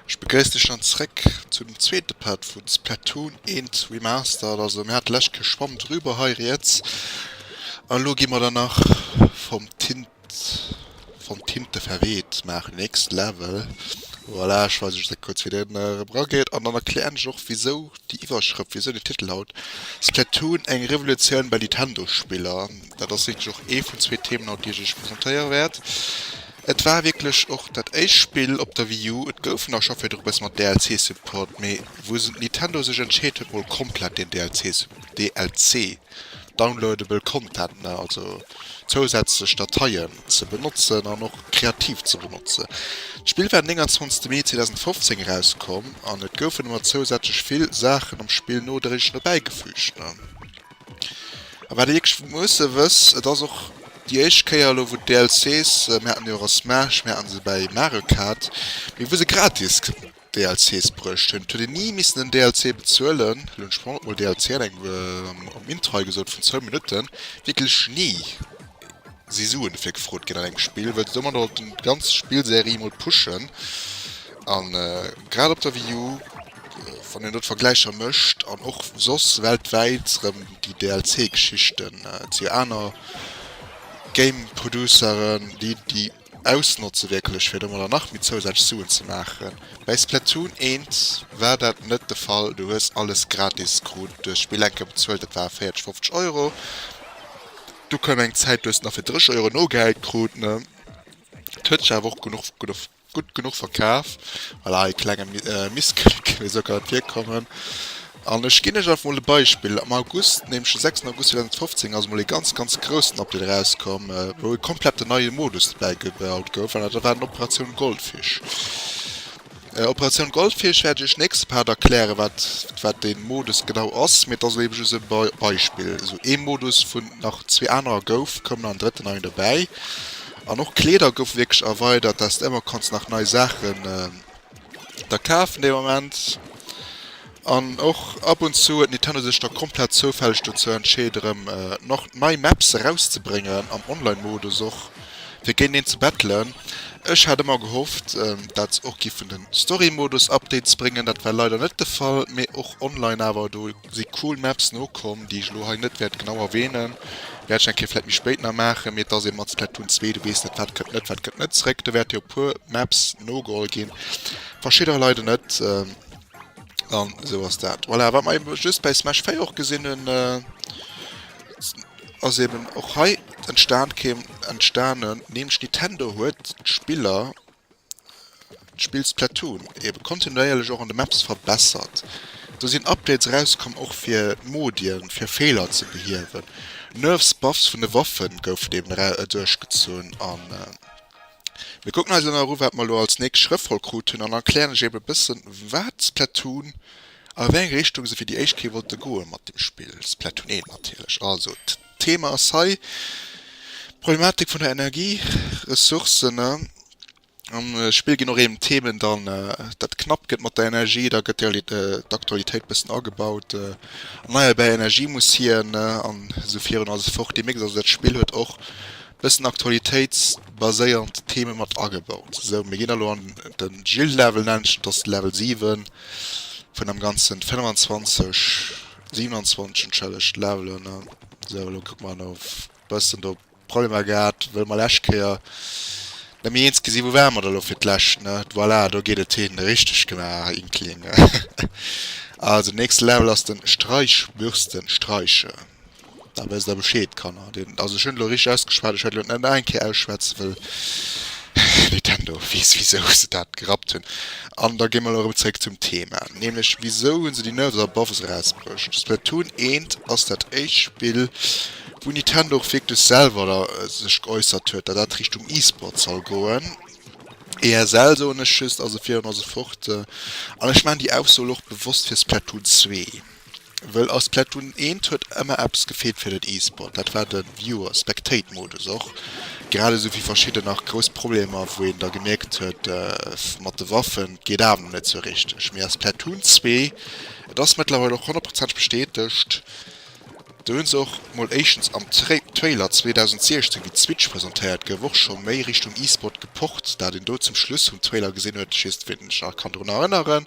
Ech begréiss dech dann zréck zu dem zweete Part vun Splatoon 1 Remastered. Also mir hat d'lescht Kéier schwamm driwwer hei riets a lo gi mer dann nach vum Tint Wann d'Tinte verweht, maach next level. Voilà, ech weisen iech dat kuerz wéi deen erëm rageet an dann erklären ech och wisou déi Iwwerschrëft, wisou den Titel haut, Splatoon, eng Revolutioun bei Nintendo Spiller. Dat ass wierklech och ee vun zwee Themen haut déi ech iech presentéiere wäert. Et war wierklech och dat éischt Spill op der Wii U, et goufen der scho virdru bësse mat DLC supported, mee wou Nintendo sech entscheet huet mol komplett deen DLC downloadable content, ne, also zousätzlech Dateien ze benotzen an och kreativ ze benotzen. D'Spill war den 29 Mee 2015 erauskomm an et goufen emmer zousätzlech vill Saachen am Spill nodréiglech dobäi gefüügt, ne. A wat ee wierklech musse wëss, et ass och déi éischt Kéier elo wou d'DLCs, mir haten déi och a Smash, mir hate se bei Mario Kart, mee wou se gratis. DLCs bruecht hunn. Et huet een ni missen en DLC bezuelen. Elo hunn ech vorhin och mol DLC an engem am Intry gesot vun zwou Minutten. Wierklech ni si Suen dofir gefrot ginn an engem Spill, well se domadder wollten d'ganz Spillserie mol pushen. A grad op der Wii U, wann een do d'Vergläicher mécht, an och soss weltwäit rëm déi DLC-Geschichten, et si jo aner Game-Produceren, déi déi. Ausnotze wierklech, fir do mol nach méi zousätzlech Suen ze maachen. Bei Splatoon 1 war dat net de Fall, du hues alles gratis krut, du hues d'Spill eng Kéier bezuelt, dat war 40, 50 Euro, du koum eng Zäit, du hues et nach fir 30 Euro nogehäit krut. Et huet sech awer och genuch, gutt genuch verkaf, voilà ee klenge Missklick, wéi soll et kann et virkommen. An ech ginn Iech einfach emol e Beispill, am August, nämlech de 6 August 2015, ass emol ee ganz, ganz groussen Update erauskomm, wou e komplette neie Modus dobäi gebaut gouf, an dat war den Operatioun Goldfish. Operatioun Goldfish wäert Iech nächste Part erklären, wat, wat dee Modus genau ass, mee et ass elo ebe just e Beispill. Esou ee Modus, wou nach zwee anerer gouf, koum nach en drëtten neien dobäi. An och Kleeder goufe wierklech erweidert, dass de ëmmer kanns nach nei Saachen Da kafen dee Moment. An och ab und zu huet Nintendo sech da komplett zoufälleg dozou entscheet erëm nach nei Maps erauszebréngen, am Online Modus och, fir géinteneen ze battlen. Ech hat ëmmer gehofft dat se och giffen den Story Modus Update ze bréngen, dat war leider net de Fall, mee och online awer do si cool Maps nokomm, déi ech elo hei net wäert genau erwähnen, wäert ech eng Kéier vläit méi spéit nach maachen, mee et ass ee mat Splatoon 2, du weess net wat kënnt net, wat kënnt net zréck, do wäerte jo e puer Maps nogeholl ginn, verschidderer leider net, an esou ass dat. Voilà, wat mer eben just bäi Smash 4 och gesinn hunn, ass eben och hei entstan, entstanen, nämlech Nintendo huet d'Spiller, D'Spill Splatoon, ebe kontinuéierlech och an de Maps verbessert. Do sinn Updates erauskomm, och fir Modien, fir Feeler ze behiewen. Nerfs, Buffs vun de Waffen goufen eben duerchgezunn. A mir kucken eis elo nach eru wat mer elo als nächst Schrëff voll krut hunn an erklären lech ebe bëssen wat Splatoon, a wéi eng Richtung se fir déi éischt Kéier wollte goe mat dem Spill. Splatoon 1 natierlech. Also. D'Thema ass hei d'Problematik vun der Energieressourcen. Am Spill ginn och eben Themen dann, dat knapp gëtt mat der Energie, da gëtt d'Aktualitéit bëssen agebaut, erneierbar Energie muss hier an esou virun a sou fort. Deemierkt also, dat Spill huet och bëssen aktualitéitsbaséierend Theme mat agebaut. Sou, mir ginn elo an de Gilles-Level, nennt sech, dat ass de Level 7 vun dem ganzen 25. 27 entschellegt Levelen ne sou elo kuck mer no bëssen do Problemer gehat wëll mer lescht Kéier nëmme eens gesi wou ware mer da lo fir d'lescht ne voilà do geet et hin richteg gemaach Inkling also nächste Level ass den Streichbürstenstreiche. Da wësst der Bescheed, Kanner. Deen, also ech hunn elo richteg ausgeschwat, ech wäert elo net nach eng Kéier ausschwätzen, wëll Nintendo weess, wisou se dat gerappt hunn. An da gi mer elo erëm zréck zum Thema, nämlech wisou hu se déi Nerves Above erausbruecht? Splatoon 1 ass dat éischt Spill, wou Nintendo och wierklech selwer da sech geäussert huet, datt dat Richtung E-Sport soll goen. ESL, soen ech just, ass e vir an ass e fort. An ech maachen déi Ausso elo och bewosst fir Splatoon 2. Well a Splatoon 1 huet ëmmer eppes gefeelt fir den E-Sport, dat war de Viewer, Spectate Modus. Och grad esou wéi verschidden nach grouss Problemer, wou een da gemierkt huet, mat de Waffen, et geet awer nach net sou richteg. Mee a Splatoon 2, et ass mëttlerweil och honnertprozenteg bestätegt, Do hunn se och mol éischtens am Trailer 2016 wéi d'Switch presentéiert gouf och scho méi Richtung E-Sport gepocht. Dat een do zum Schluss vum Trailer gesinn huet, ech weess net wéi een sech nach kann drun erënneren,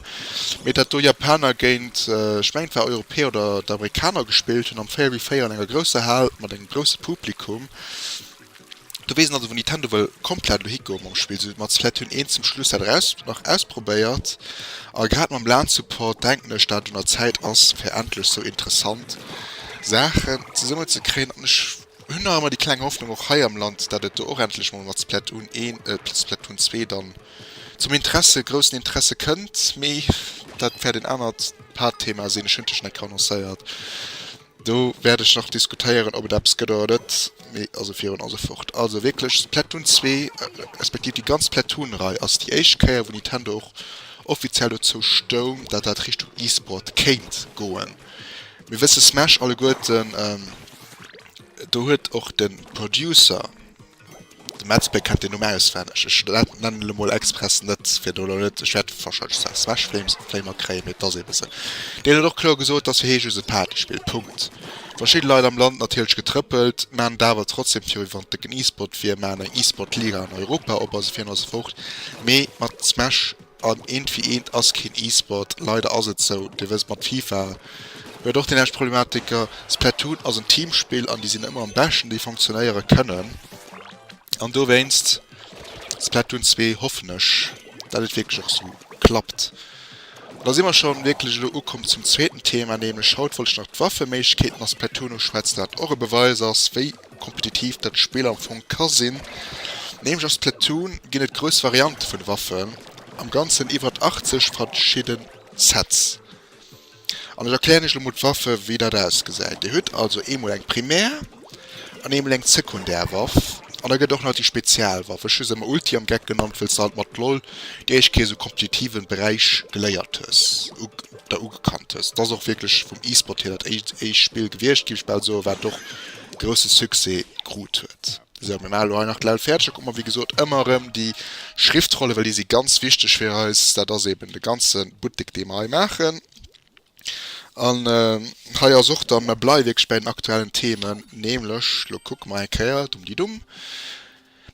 mee dat do Japaner géint, ech mengen et war Europäer oder Amerikaner gespillt hunn am véier wie véier an enger grousser Hal mat engem grousse Publikum. Du wees also wou Nintendo wëll komplett elo higoe mam Spill, sou wéi mer d'Splatoon 1 zum Schluss dat eraus nach ausprobéiert. A grad mam lan Support denken ech dat et un der Zäit ass fir endlech sou interessant Saachen zesummen ze kréien an ech hunn nach ëmmer déi kleng Hoffnung och hei am Land dat et do och endlech mol mat Splatoon 1 äh Splatoon 2 dann zum Interesse groussen Interesse kënnt. Mee dat wäert een anert Haaptthema sinn, ech hunn d'lech schon eng Kéier annoncéiert. Do wäert ech nach diskutéieren, ob et eppes gëtt oder net, mee also virun allem fort. Also wierklech Splatoon 2, respektiv déi ganz Splatoon-Rei ass déi éischt Kéier, wou Nintendo och offiziell dozou stoung, datt dat Richtung E-Sport kéint goen. Mir wësse Smash alleguerten, do huet och de Producer, De Metzbéck kennt den Numm auswenneg. Ech nennen elo mol express net, fir do elo net, ech wäert wahrscheinlech Sass Wäschfléimer kréien, mee et ass eebe sou. Deen huet och kloer gesot, dass fir hie just e Partyspill, Punkt. Verschidde Leit am Land, natierlech getrëppelt, maan et awer trotzdem virwéi wann et dëcken E-Sport wier, maan eng E-Sport-Liga an Europa op, also virun eis Furcht, mee mat Smash. An eent wéi eent ass keen E-Sport, leider ass et sou. Dir wësst, mat Fifa huet och déi nämmlecht Problematiker. Splatoon ass en Teamspill an déi sinn ëmmer am beschten, déi funktionéiere kënnen. An dowéinst Splatoon 2, hoffen ech, datt et wierklech och sou klappt. An da si mer scho wierklech elo ukomm zum zweeten Thema, nämlech haut wollt ech nach d'Waffeméiglechkeeten a Splatoon uschwätzen, dat och e Beweis ass, wéi kompetitiv dat Spill am Fong ka sinn. Nämlech a Splatoon ginn et grouss Variante vun Waffen, am ganzen iwwert 80 verschidden Sets. An ech erklären iech elo mol d'Waffe wéi dat ausgesäit. Dir hutt also eemol eng Primär an eemol eng Sekundär Waff an da gëtt och nach déi Spezialwaff, ech hu se ëmmer Ulti am Geck genannt wëll se halt mat LOL déi éischt Kéier esou kompetitiven Beräich geléiert hues. der ugekannt hues. Et ass och wierklech vum E-Sport hir dat éischt Spill gewiescht, giff ech bal soen, wat och grousse Succès krut huet. Sou, mir maache lo hei nach d'Levl fäerdeg, da kucke mer wéi gesot ëmmer erëm déi Schriftrollen, well déi si ganz wichteg fir eis. Dat ass eben de ganze Buttek dee mer hei maachen. An hei ass och da, mer bleiwe wierklech bei den aktuellen Themen, nämlech, lo kucke mer eng Kéier, dumm di dumm,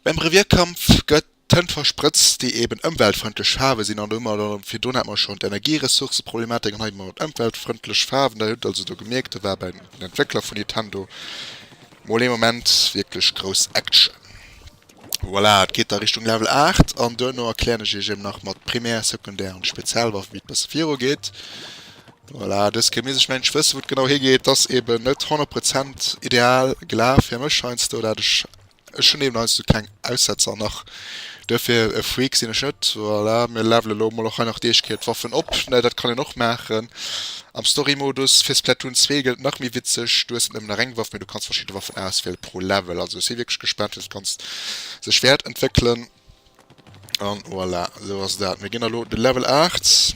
beim Revierkampf gëtt. Tënt versprëtzt, déi eben ëmweltfrëndlech Faarwe sinn, an domadder, virdrun hat mer schonn d'Energieressourceproblematik, an hei mer mat ëmweltfrëndlech Faarwen, dat hutt Der also do gemierkt, do war bei den Entwéckler vu Nintendo mol ee Moment wierklech grouss Action. Voilà, et geet da Richtung Level 8, an duerno erklären ech Iech eben nach mat Primär, Sekundär an Spezialwaffen, wéi et bësse virugeet. Voilà, dës Kemis, ech mengen, ech wësse wou et genau higeet, ass eben net 100 Prozent ideal gelaf fir mech heiansdo, dat ech Ech hunn eben heiansdo keng Aussetzer nach, duerfir e Freak sinn ech net. Voilà, mir levelen elo emol och hei nach déi éischt Kéier d'Waffen op. Ne, dat kann een och maachen am Story-Modus. Fir Splatoon 2 gëllt, nach méi witzeg, du hues net nëmmen nach eng Waff, mee du kanns verschidde Waffen auswiele pro Level. Also ech si wierklech gespaant, wéi dat Ganzt sech wäert entwéckelen. An voilà, esou ass dat. Mir ginn elo de Level 8.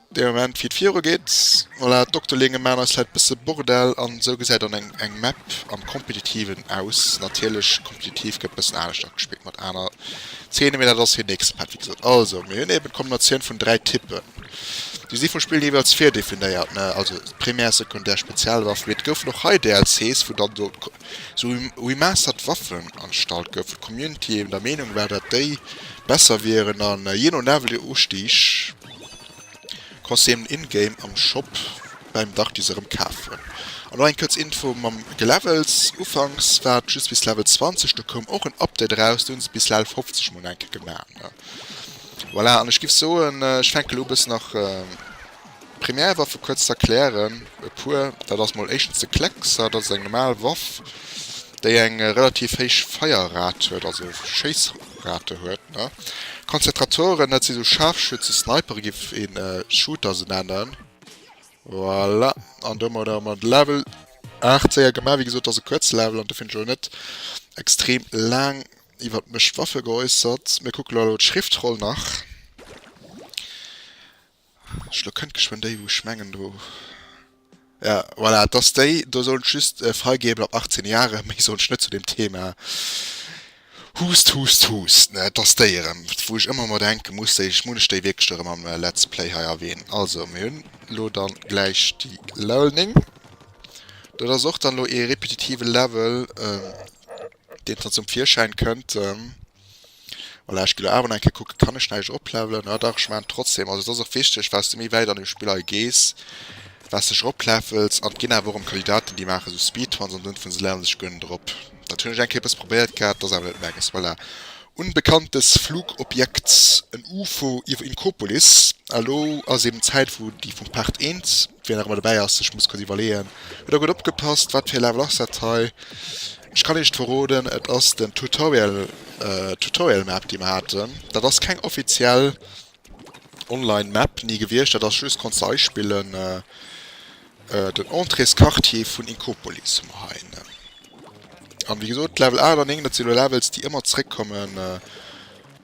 Dee Moment wéi et viru geet. Voilà, Dokter Linge maan eis leit bësse Bordell an esou gesäit dann eng eng Map am Kompetitiven aus. Natierlech Kompetitiv gëtt bëssen anescht agespillt mat aner Zeene mee dat ass hir nächste Part wéi gesot. Also mir hunn eben d'Kombinatioun vun 3 Typpen. Déi si vum Spill jeeweils virdefinéiert ne, also Primär, Sekundär, Spezialwaff. Mee et goufen och hei DLCs wou dann do sou remastert Waffen agestallt goufen. D'Community eben der Meenung war dat déi besser wieren an jee no Level Ustig, Kostüm in-game am Shop bäim Darkis erëm kafen. An och eng kuerz Info mam Gelevels, Ufanks war et just bis Level 20, do koum och en Update eraus, do hunn se bis Level 50 mol enke gemaach. Voilà, an ech giff soen ech fänke lo bëssen nach Première Waffe kuerz z'erklären, e puer. Dat ass mol éischtens de Kleckser, dat ass eng normal Waff déi eng relativ héich Feierrate huet, also Schéiss. Rate huet ne Konzentratoren dat si sou Scharfschützen Sniperen giff een Shooter se nennen. Voilà an domadder hu mer de Level 8 séier gemaach. Wéi gesot ass e kuerze Level an dofir hunn ech och net extrem laang iwwert mech Waffe geäussert. Mir kucke lo elo d'Schriftroll nach. Elo kënnt geschwënn déi wou ech mengen do. Jo voilà et ass déi do sollt just freigebel ab 18 Jahre méi sollt ech net zu dem Thema huust huust huust ne et ass déi erëm wou ech ëmmer mer denke muss déi ech munn ech déi wierklech do erëm am Let's Play hei erwänen. Also mir hunn elo dann gläich déi Level 9 dat ass och dann elo ee repetitive Level deen dann zum Virschäin kënnt. Voilà, ech ginn awer nach eng Kéier kucken, kann ech näischt oplevelen? Ah dach, ech maachen et trotzdem. Also et ass och wichteg, wâs de méi wäit an dem Spill hei gees, wâs dech eroplevels. An et ginn awer och erëm Kandidaten, déi maachen esou Speedruns an dunn fanne se levelen sech guer net erop. Dat hunn ech eng Kéier e bësse probéiert gehat, et ass awer net menges. Voilà, unbekanntes Flugobjekt, en UFO iwwer Inkopolis. Elo ass eben d'Zäit, wou déi vum Part Eent, wien nach ëmmer dobäi ass, sech muss kuerz iwwerleeën, Huet der gutt opgepasst? Wat fir e Level ass dat hei? Ech kann Iech verroden, et ass den Tutorial, Tutorial Map déi mer haten. Dat ass keng offiziell online Map ni gewiescht, dat ass just, konns de eispillen, den Entréesquartier vun Inkopolis hu mer heihennen. An wéi gesot Level 8 an 9, dat si lo Levels déi ëmmer zréckkommen.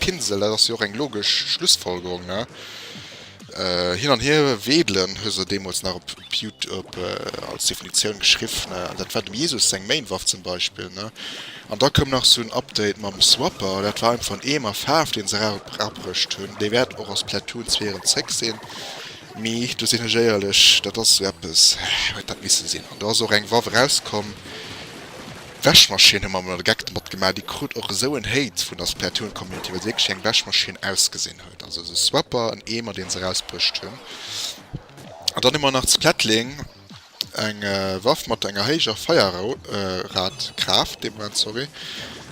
Pinsel, dat ass jo och eng logesch Schlussfolgerung, ne? Hin an hier wedelen, hu se deemools nach op Youtub als Definitioun geschriff, ne? An dat war dem Jesus seng Main-Waff zum Beispill, ne? An da koum nach sou en Update mam Swapper, dat war einfach en Eemer Faarf, dee se erabrëscht hunn. Dee wäert och a Splatoon 2 erëm zréck sinn, mee do sinn ech éierlech, dat ass sou eppes, huet dat misse sinn. An do ass och eng Waff erauskomm. Wäschmaschinn hu mer emol e Geck domat gemaach. Déi krut och esou en Hate vun der Splatoon-Community, well se wierklech wéi eng Wäschmaschinn ausgesinn huet. Also esou Swapper, en Eemer, deen se erausbruecht hunn. An dann hu mer nach zu Plettling eng Waff mat enger héijer Feierrad-Kraaft, deem Moment, sorry.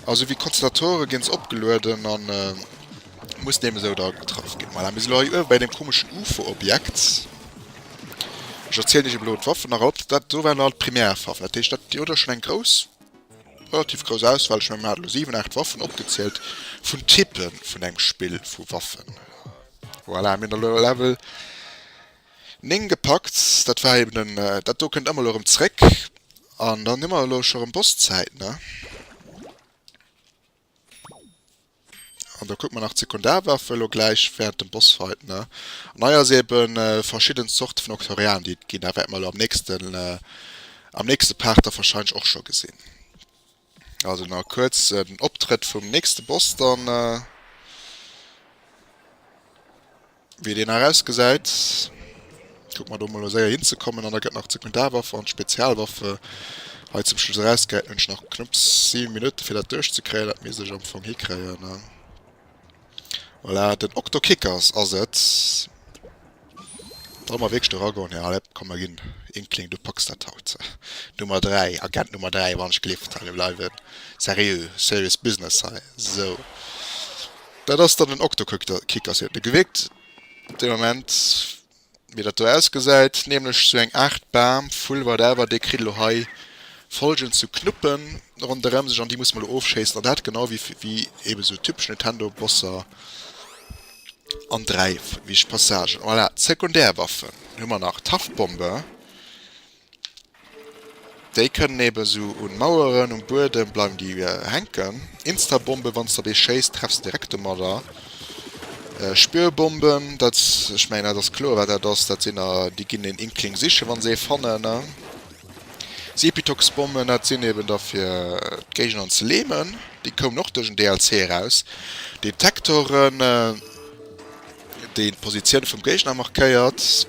Also wéi Konzentratore ginn se opgelueden an. Muss dem esou da getraff gin. Voilà, mir si lo hei uewe bei deem komeschen Ufo-Objekt. Ech erzielen iech elo d'Waffen nach alt. Dat do waren alt d'Primärwaffen. Dat heescht, dir hutt der schonn eng grouss, relativ grouss Auswahl. Ech mengen, mir hate lo 7, 8 Waffen opgezielt vun Type vun engem Spill vu Waffen. Voilà, mir hunn elo e Level 9 gepackt. Dat war eben den, dat do kënnt ëmmer elo erëm zréck. An dann hu mer elo scho rëm Bosszäit, ne? An da kucke mer nach d'Sekundarwaffe elo gläich wärend dem Bossfight, ne? An hei ass eebe verschidden Zorte vun Octorialen, déi et ginn. Dat wäerte mer elo am nächsten, am nächste Part da wahrscheinlech och scho gesinn. Also nach e kuerzen Optrëtt vum nächste Boss dann. Wéi deen nach ausgesäit, kucke mer do emol elo séier hinzekommen. An da gëtt nach d'Sekundarwaffe an d'Spezialwaffe hei zum Schluss erausgehäit. Nun hunn ech nach knupps 7 Minutte fir dat duerchzekréien. Dat misst ech am Fong hikréien. Voilà, den Octokickers ass et. Wa mer wierklech do eragoen, jo allez, komm mer ginn Inkling, du packs dat haut. Nummer 3, Agent Nummer 3, wann ech gelift. Allez, mir bleiwen seriö, serious business hei, sou. Dat ass dann den Octokicker, seet de Gewickt dee Moment, wéi dat do ausgesäit, nämlech sou eng Aart Bam, Vull, whatever, dee kritt elo hei folgend sou Knuppen ronderëm sech an déi musse mer elo ofschéissen an dat genau wéi ebe sou typesch Nintendo-Bosser an dräi wich Passagen. Voilà, Sekundärwaffen hu mer nach, Taftbombe, Déi kënnen eben sou un Maueren, um Buedem bleiwen déi hänken. Instabomben, wann s de op ee schéiss, treffs de direkt domadder. Spürbomben, dat, ech mengen dat ass kloer wat dat ass, dat sinn der, déi ginn den Inkling sichen wann se ee fannen ne. Sepitoxbomben, dat sinn eben der fir d'Géigner ze lämen, déi koumen och duerch en DLC eraus. Detektoren, deen d'Positioun vum Géigner markéiert.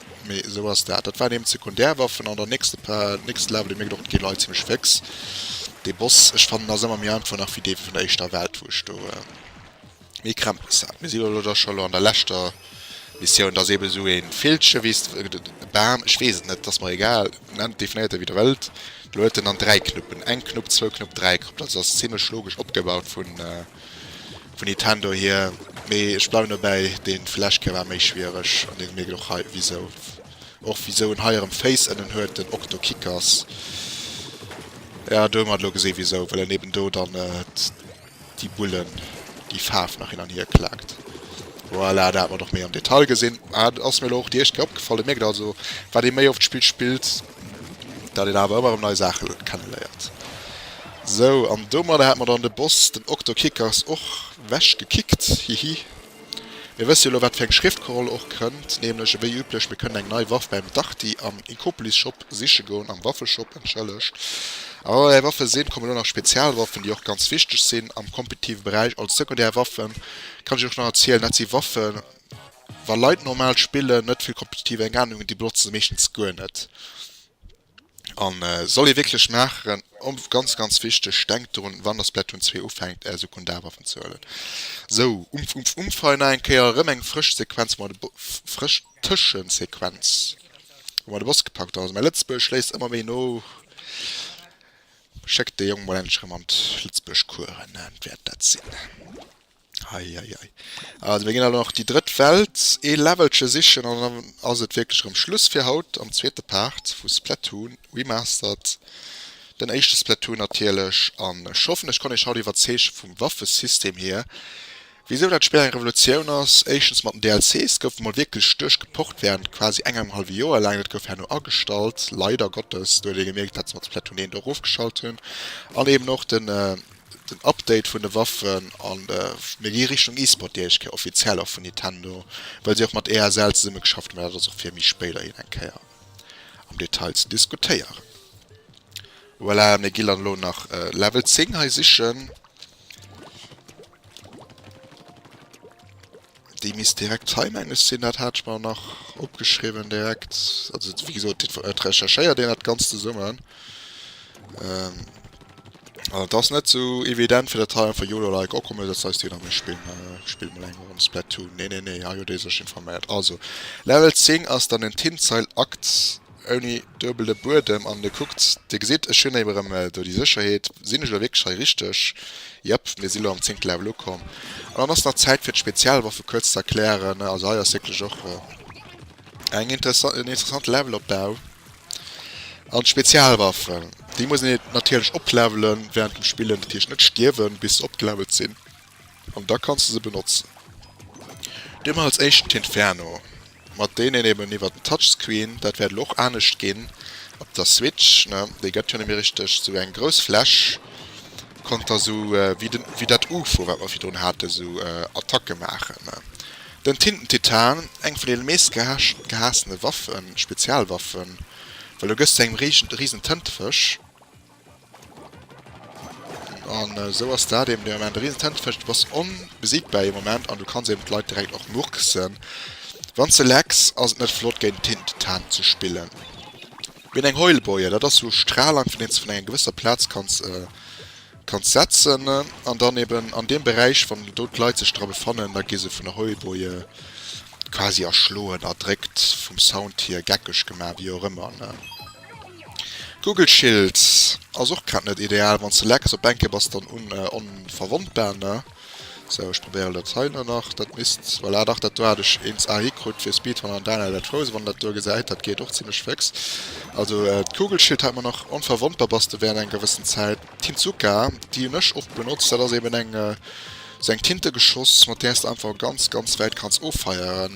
Mee esou ass dat. Dat waren eben d'Sekundärwaffen an der nächste Pa, nächste Level, dir mierkt och, et gi Leit zimmlech féx. Dee Boss, ech fannen, ass ëmmer méi einfach nach wéi dee vun der éischter Welt, wou ech do méi Krämpes hat. Mir si jo elo da scho lo an der leschter Missioun. Et ass eben esou ee Villche wéi s, e Bam, ech weess et net, et ass mer egal, nennt, definéiert e wéi der wëllt. Elo huet en dann dräi Knuppen, eng Knupp, zwou Knupp, dräi Knupp. Dat ass zimmlech logesch opgebaut vun, Vun Nintendo hier, mee ech bleiwen dobäi, den Flash Gear war méi schwiereg an den mierkt och hei wisou. Och wisou en hei erem Féiss ënnen huet, den Octo Kickers. Jo, do hu mer et elo gesinn wisou, well en eben do dann déi Bullen, déi Faarf nach hin an hier klaakt. Voilà, do hat mer et och méi am Detail gesinn. Ass mir elo och déi éischt Kéier opgefall. Dir mierkt also, wat ee méi oft d'Spill spillt, dat een awer ëmmer erëm nei Saache kenneléiert. Sou, an domadder hat mer dann de Boss, den Okto Kickers, och wech gekickt, hihi. Mir wësse jo elo, wat fir eng Schriftkoroll och kënnt, nämlech, ewéi üblech, mir kënnen eng nei Waff bäim Darty am Inkopolis-Shop siche goen, am Waffeshop, entschëllegt. A wa mer bäi Waffe sinn, kommen elo nach Spezialwaffen, déi och ganz wichteg sinn am kompetitive Beräich, als sekundär Waffen kann ech Iech och nach erzielen, dat si Waffen, Wa Leit normal spillen, net vill kompetitiv eng Ahnung hunn, déi benotzen se meeschtens guer net. An soll ee wierklech maachen, om ganz ganz wichteg, denkt drun wann der Splatoon 2 ufänkt är Sekundar Waffen ze huelen. Sou umpf umpf umpf hei nach eng Kéier erëm eng frësch Sequenz wou mer de frësch Tëschesequenz wou mer de Boss gepackt hunn. Also mäi Lëtzebuergesch léisst ëmmer méi no. Schéckt de Jong mol endlech erëm an d'Lëtzebuergeschcoursen, dat wäert dat sinn. Hei, hei, hei. Also mir ginn also nach déi drëtt Welt ee Levelche sichen an dann ass et wierklech erëm Schluss fir haut. Am zweete Part vu Splatoon remastered, den éischte Splatoon natierlech. An ech hoffen ech konnt iech haut iwwerzeege vum Waffesystem hier, wisou dat Spill eng Revolutioun ass. Éischtens mat den DLCs gouf emol wierklech duerch geport wärend quasi engem hallwe Joer laang. Dat gouf herno agestallt, leider Gottes. Do huet ee gemierkt, dat se mat Splatoon 1 do erofgeschalt hunn. An eeben och den. Den Update vun de Waffen an mir gi Richtung E-Sport déi éischt Kéier offiziell och vun Nintendo, well si och mat ESL zesumme geschafft hunn, mä dat ass och fir méi spéider iert eng Kéier am Detail ze diskutéieren. Voilà, mir gi dann elo nach Level 10 hei sichen. Déi misst direkt zeimänglech sinn, dat hat ech mer nach opgeschriwwen direkt. Also wéi gesot, et recherchéiert een dat Ganzt zesummen. Ähm, an et ass net sou evident, fir dat hei einfach YOLO-like, oh komm, mir setzen eis déi an, mir spillen, äh, spillen mol eng Ronn Splatoon. Nee, nee, nee, hei huet ee sech informéiert. Also, Level 10 ass dann en Tinzeil-Akt. Ouni duebele Buedem an dir kuckt, dir gesitt ech hunn émmer erëm do déi Sécherheet. Sinn ech elo wierklech hei richteg? Jep, mir si lo am zéngte Level ukomm an dann ass nach Zäit fir d'Spezialwaffe kuerz ze erklären. Also hei ass wierklech och eng interessant, en interessante Levelopbau an d'Spezialwaffen, déi muss een natierlech oplevelen wärend dem Spillen, dat heescht net stierwen bis se opgelevelt sinn. An da kanns de se benotzen. Du huet als éischten d'Inferno, mat deen een eben iwwert den Touchscreen, dat wäert elo och anescht ginn op der Switch, ne, déi gëtt jo net méi richteg, esou eng grouss Fläch, konnt der esou wéi den, wéi dat Ufo, wat mer virdrun haten, esou Attacke maachen, ne. Den Tintentitan, eng vun deene meescht gehaassene Waffen, Spezialwaffen, well do gëss du engem Riesenténtefësch. An esou ass dat eben dee Moment, e risen Tennis Match, du bass onbesiegbar ee Moment an du kanns eben d'Leit direkt och murksen wann s de lecks. Ass et net flott géint Tintentan ze spillen? Wéi eng Heulboie, dat ass sou Stralang vun deem s de vun enger gewësser Plaz kanns kanns setzen an dann eben an deem Beräich wann do d'Leit sech dra befannen, da gi se vun der Heulboie quasi erschloen, erdréckt, vum Sound hier geckeg gemaach, wéi och ëmmer. Google Schild ass och grad net ideal wanns de lecks op Bänke bass dann un onverwondbar ne sou ech probéieren dat hei na nach dat misst voilà dach dat do hat ech eens ahi krut fir Speedrun an Daniel dat Frozen wann dat do gesäit dat geet och zimlech féx also d'Google Schild hat mer nach onverwondbar bass de während enger gewëssen Zäit Tintsuka déi hun ech oft benotzt dat ass eben eng sou eng Tinte geschoss mat där s de einfach ganz ganz wäit kanns offeieren.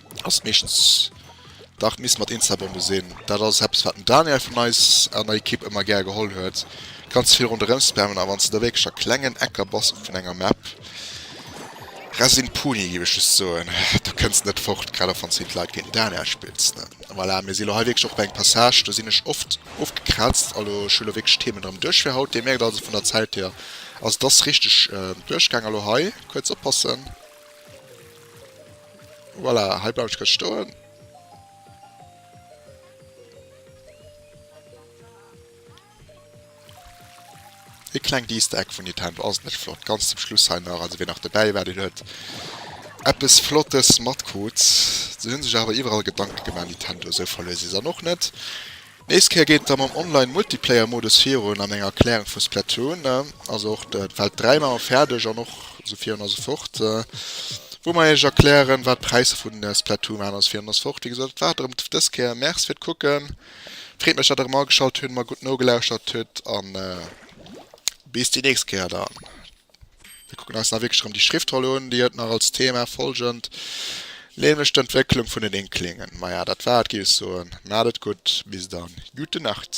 ass meeschtens dach d'Miss mat Instabombe sinn. Dat ass eppes, wat den Daniel vun eis an der Ekipp ëmmer gär geholl huet, ganz vill ronderëm spammen. A wann s de da wierklech a klengen Ecker bass vun enger Map, rest een Puni, géif ech just soen, da kënns de net fort, grad och wann s de géint Leit wéi den Daniel spills. Voilà, mir si lo hei wierklech och bei engem Passage, do sinn ech oft ofgekraazt. A lo, ech hu lo wierklech d'Themen erëm duerch fir haut. Dir mierkt also vun der Zäit hier, also et ass richteg duerchgaang. A lo hei kuerz oppassen. Voilà, hei bleiwen ech grad stoen. E klengt Easter Egg vun Nintendo, ass et net flott? Ganz zum Schluss hei nach, also wien nach dobäi war, deen huet eppes Flottes matkrut. Se hunn sech awer iwwerall Gedanke gemaach, Nintendo, esou verluer si se dann och net. Nächst Kéier geet et da mam Online Multiplayer Modus virun an eng Erklärung vu Splatoon, also och de Feld 3 man mer färdeg an och esou virun an esou fort wou mer iech erklären wat d'Präisser vun Splatoon waren an esou virun an esou fort. Wéi gesot et war et erëm dës Kéier. Merci fir d'Kucken. Freet mech dat der erëm ageschalt hunn, mer gutt nogelauschtert hutt an bis déi nächst Kéier dann. Mir kucken eis nach wierklech erëm déi Schriftroll un, déi huet nach als Thema folgend, nämlech d'Entwécklung vun den Inklingen. Maja, dat war et, géif ech soen. Maacht et gutt, bis dann, Gute Nacht!